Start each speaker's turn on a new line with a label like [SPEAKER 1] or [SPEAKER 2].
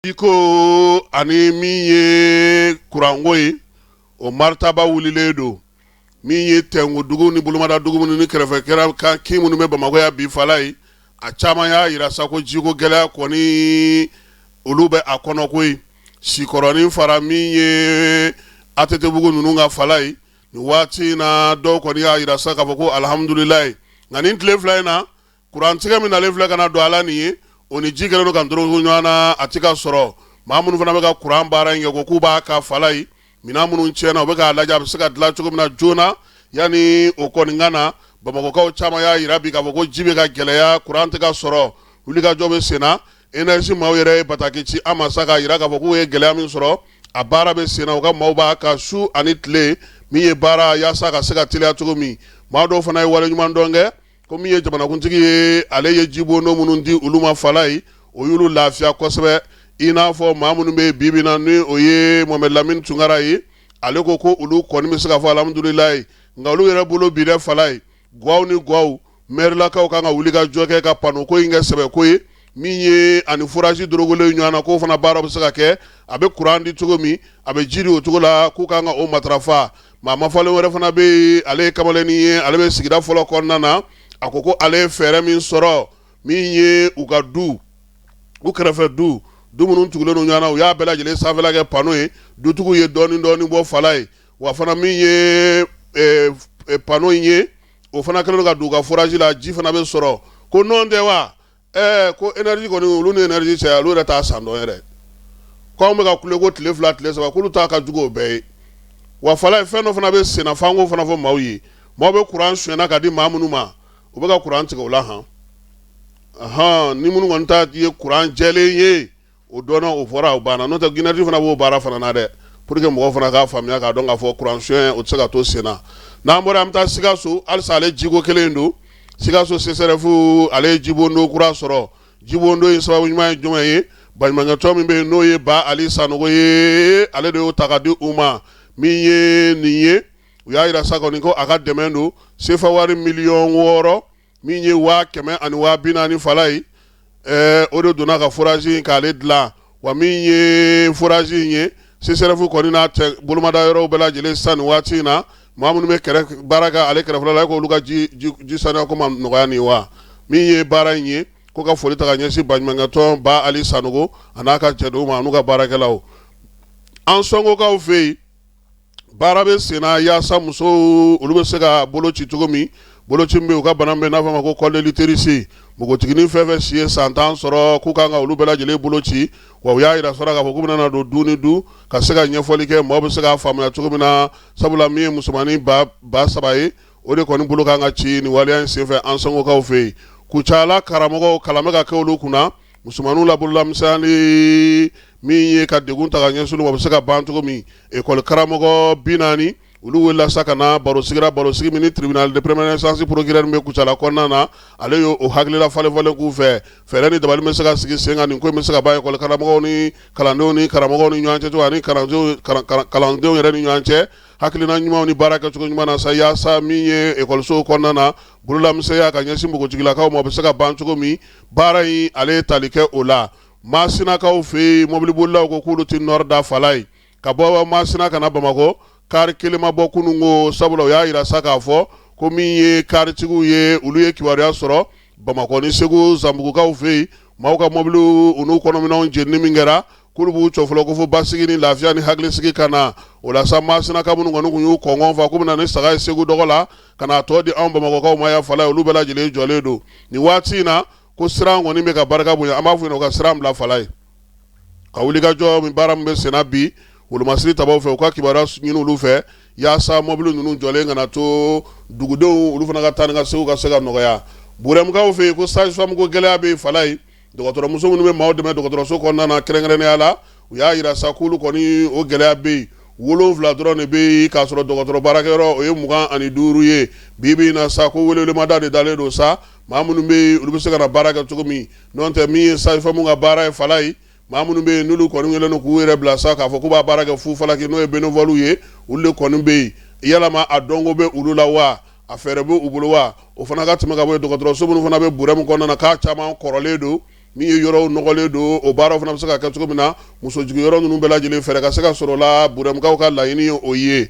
[SPEAKER 1] jiko ani min ye kuranko ye o maritabaa wililen don min ye tɛngu dugu ni bolomada dugu ni kɛrɛfɛ kɛra kan kin minnu bɛ bamakɔ yan bi falayi a caman y'a jira sa ko jiko gɛlɛya kɔni olu bɛ a kɔnɔ koyi sikɔrɔnin fara min ye atetebugu ninnu kan falayi nin waati in na dɔw kɔni y'a jira sa k'a fɔ ko alihamdulilayi nka nin tile fila in na Kurantigɛ min nalen filɛ ka na don a la nin ye, o ni ji kɛlen don ka dorogo ɲɔgɔn na, a tɛ ka sɔrɔ. Maa minnu fana bɛ ka kuran baara in kɛ, u ko k'u b'a kan falayi. Minɛn minnu tiɲɛna, u bɛ k'a lajɛ a bɛ se ka dilan cogo min na joona, yanni o kɔni ka na. Bamakɔkaw caman y'a jira bi k'a fɔ ko ji bɛ ka gɛlɛya, kuran tɛ ka sɔrɔ. Wulikajɔ bɛ sen na. Energie maaw yɛrɛ ye bataki ci an ma sa, k'a jira k'a fɔ k'u ye gɛlɛya min sɔrɔ, a baara bɛ sen na. U ka maaw b'a kan su ani tile min ye baara, yaasa a ka se ka teliya cogo min. Maa dɔw fana ye waleɲumandɔn kɛ. ko min ye jamanakuntigi ye ale ye jibondo minnu di olu ma falayi o y'olu lafiya kosɛbɛ i n'a fɔ maa minnu bɛ bibi na ni o ye mohamɛdi lamini tunkara ye ale ko ko olu kɔni bɛ se ka fɔ alihamudulilayi nka olu yɛrɛ bolo bi dɛ falayi gwaw ni gwaw mɛrilakaw kan ka wulikajɔ kɛ ka panoko in kɛ sɛbɛko ye min ye ani furaji dorogolen ɲɔgɔn na k'o fana baara bɛ se ka kɛ a bɛ kuran di cogo min a bɛ ji di o cogo la k'u ka kan ka o matarafa maa mafalen wɛrɛ fana bɛ yen ale ye kamalennin ye ale bɛ sigida fɔlɔ kɔnɔna na a ko ko ale ye fɛɛrɛ min sɔrɔ min ye u ka du u kɛrɛfɛ du du minnu tugulen ɲɔgɔn na u y'a bɛɛ lajɛlen sanfɛla kɛ pano ye dutigiw ye dɔɔnin dɔɔnin bɔ falayi wa fana min ye pano in ye o fana kɛlen ka don u ka furaji la ji fana bɛ sɔrɔ ko nɔn tɛ wa Ɛɛ ko énergie kɔni olu ni énergie cɛ olu yɛrɛ t'a san dɔn yɛrɛ, ko anw bɛ ka kule ko tile fila tile saba k'olu ta ka jugu o bɛɛ ye, wa falayi fɛn dɔ fana bɛ senna f'an k'o fana fɔ maaw ye, maaw bɛ courant sonyɛna ka di maa minnu ma u bɛ ka courant tigɛ u la han, ɔnhɔn, ni minnu kɔni ta ye courant jɛlen ye o dɔn o fɔra o banna n'o tɛ énergie fana b'o baara fana na dɛ pour que mɔgɔ fana k'a faamuya k'a dɔn k'a fɔ kuran sonyɛ o tɛ se ka to senna n'an bɔra an bɛ taa sikaso halisa ale jiko kelen don sikaso sesɛrɛfu ale ye jibondo kura sɔrɔ jibondo in sababu ɲuman ye jumɛn ye baɲumankɛtɔn min bɛ yen n'o ye ba ali sanogo ale de y'o ta ka di u ma min ye nin ye u y'a jira sa kɔni ko a ka dɛmɛ don sefa wari miliyɔn wɔɔrɔ min ye waa kɛmɛ ani waa bi naani falayi ɛɛ o de donna ka furazi in k'ale dilan wa min ye furazi in ye sesɛrɛfu kɔni n'a tɛ bolomada yɔrɔw bɛɛ lajɛlen sisan nin waati in na maa minnu bɛ kɛrɛ baara kɛ ale kɛrɛfɛla la k'olu ka ji ji saniya ko ma nɔgɔya nin wa min ye baara in ye ko ka foli ta ka ɲɛsin baɲumankɛtɔn ba ali sanogo a n'a ka cɛdenw ma n'u ka baarakɛlaw an sɔnkokaw fɛ yen baara bɛ senna yaasa musow olu bɛ se ka boloci cogo min boloci bɛ u ka bana bɛ n'a fɔ ma ko col de l'utérus npogotiginin fɛn fɛn si ye san tan sɔrɔ k'u kan ka olu bɛɛ lajɛlen boloci wa u y'a jira sɔrɔ k'a fɔ k'u bɛna na don du ni du ka se ka ɲɛfɔli kɛ maaw bɛ se k'a faamuya cogo min na sabula min ye musomannin ba saba ye o de kɔni bolo kan ka ci nin waleya in senfɛ ansongokaw fɛ yen kucala karamɔgɔw kalan bɛ ka kɛ olu kunna Musomanninw la bololamisɛnya min ye ka degun ta ka ɲɛsin olu ma a bɛ se ka ban cogo min ekɔli karamɔgɔ bi naani olu welela sa ka na barosigi la barosigi min ni tribunal de première instance procureur min bɛ kucala kɔnɔna na ale y' o hakilila falenfalen k'u fɛ fɛɛrɛ ni dabali bɛ se ka sigi sen kan nin ko in bɛ se ka ban ekɔli karamɔgɔw ni kalandenw ni karamɔgɔw ni ɲɔgɔn cɛ ani kalandenw yɛrɛ ni ɲɔgɔn cɛ hakilina ɲumanw ni baara kɛcogo ɲuman na sa yaasa min ye ekɔlisow kɔnɔna na bololamisɛnya ka ɲɛsin npogotigilakaw ma bɛ se ka ban cogo min baara in ale ye tali kɛ o la masinakaw fɛ yen mɔbilibolilaw ko k'olu tɛ nɔrɔ da fala ye ka bɔ masina ka na bamakɔ kari kelen ma bɔ kunun ko sabula u y'a jira sa k'a fɔ ko min ye karitigiw ye olu ye kibaruya sɔrɔ bamakɔ ni segu zanbugukaw fɛ yen maaw ka mɔbiliw u n'u kɔnɔminɛnw jenini min kɛra k'olu b'u jɔ fɔlɔ ko fo basigi ni lafiya ni hakilisigi ka na o la sa masinaka minnu kɔni tun y'u kɔngɔn fa k'u bɛna ni saga ye segu dɔgɔ la ka n'a tɔ di anw bamakɔkaw ma yan fala ye olu bɛɛ lajɛlen jɔlen don nin waati in na ko siran kɔni bɛ ka barika bonya an b'a fɔ yen u ka siran bila fala ye ka wulikajɔ min baara min bɛ senna bi wolomasiri tabaw fɛ u ka kibaruya ɲini olu fɛ yaasa mɔbili ninnu jɔlen kana to dugudenw olu fana ka taa ni ka segin ka se ka nɔgɔya burɛmukaw fɛ yen ko sage-femme ko gɛlɛya bɛ fala ye Dɔgɔtɔrɔmuso minnu bɛ maaw dɛmɛ dɔgɔtɔrɔso kɔnɔna na kɛrɛnkɛrɛnnenya la u y'a jira sa k'olu kɔni o gɛlɛya bɛ yen wolonwula dɔrɔn de bɛ yen k'a sɔrɔ dɔgɔtɔrɔ baarakɛyɔrɔ o ye mugan ani duuru ye bi bi in na sa ko welewelemada de dalen don sa maa minnu bɛ yen olu bɛ se ka na baara kɛ cogo min n'o tɛ min ye sage-femme ka baara ye fala ye maa minnu bɛ yen n'olu kɔni kɛlen don k'u yɛrɛ bila sa k'a fɔ k'u bɛ baara kɛ fu falaki n'o ye bénévolew ye olu de kɔni bɛ yen yalama a dɔnko bɛ olu la wa A fɛɛrɛ b' u bolo wa o fana ka tɛmɛ ka bɔ yen dɔgɔtɔrɔso minnu fana bɛ burɛmu kɔnɔna na k'a caman kɔrɔlen don min ye yɔrɔw nɔgɔlen don o baaraw fana bɛ se ka kɛ cogo min na musojiginyɔrɔ ninnu bɛɛ lajɛlen fɛɛrɛ ka se ka sɔrɔ la burɛmukaw ka laɲini ye o ye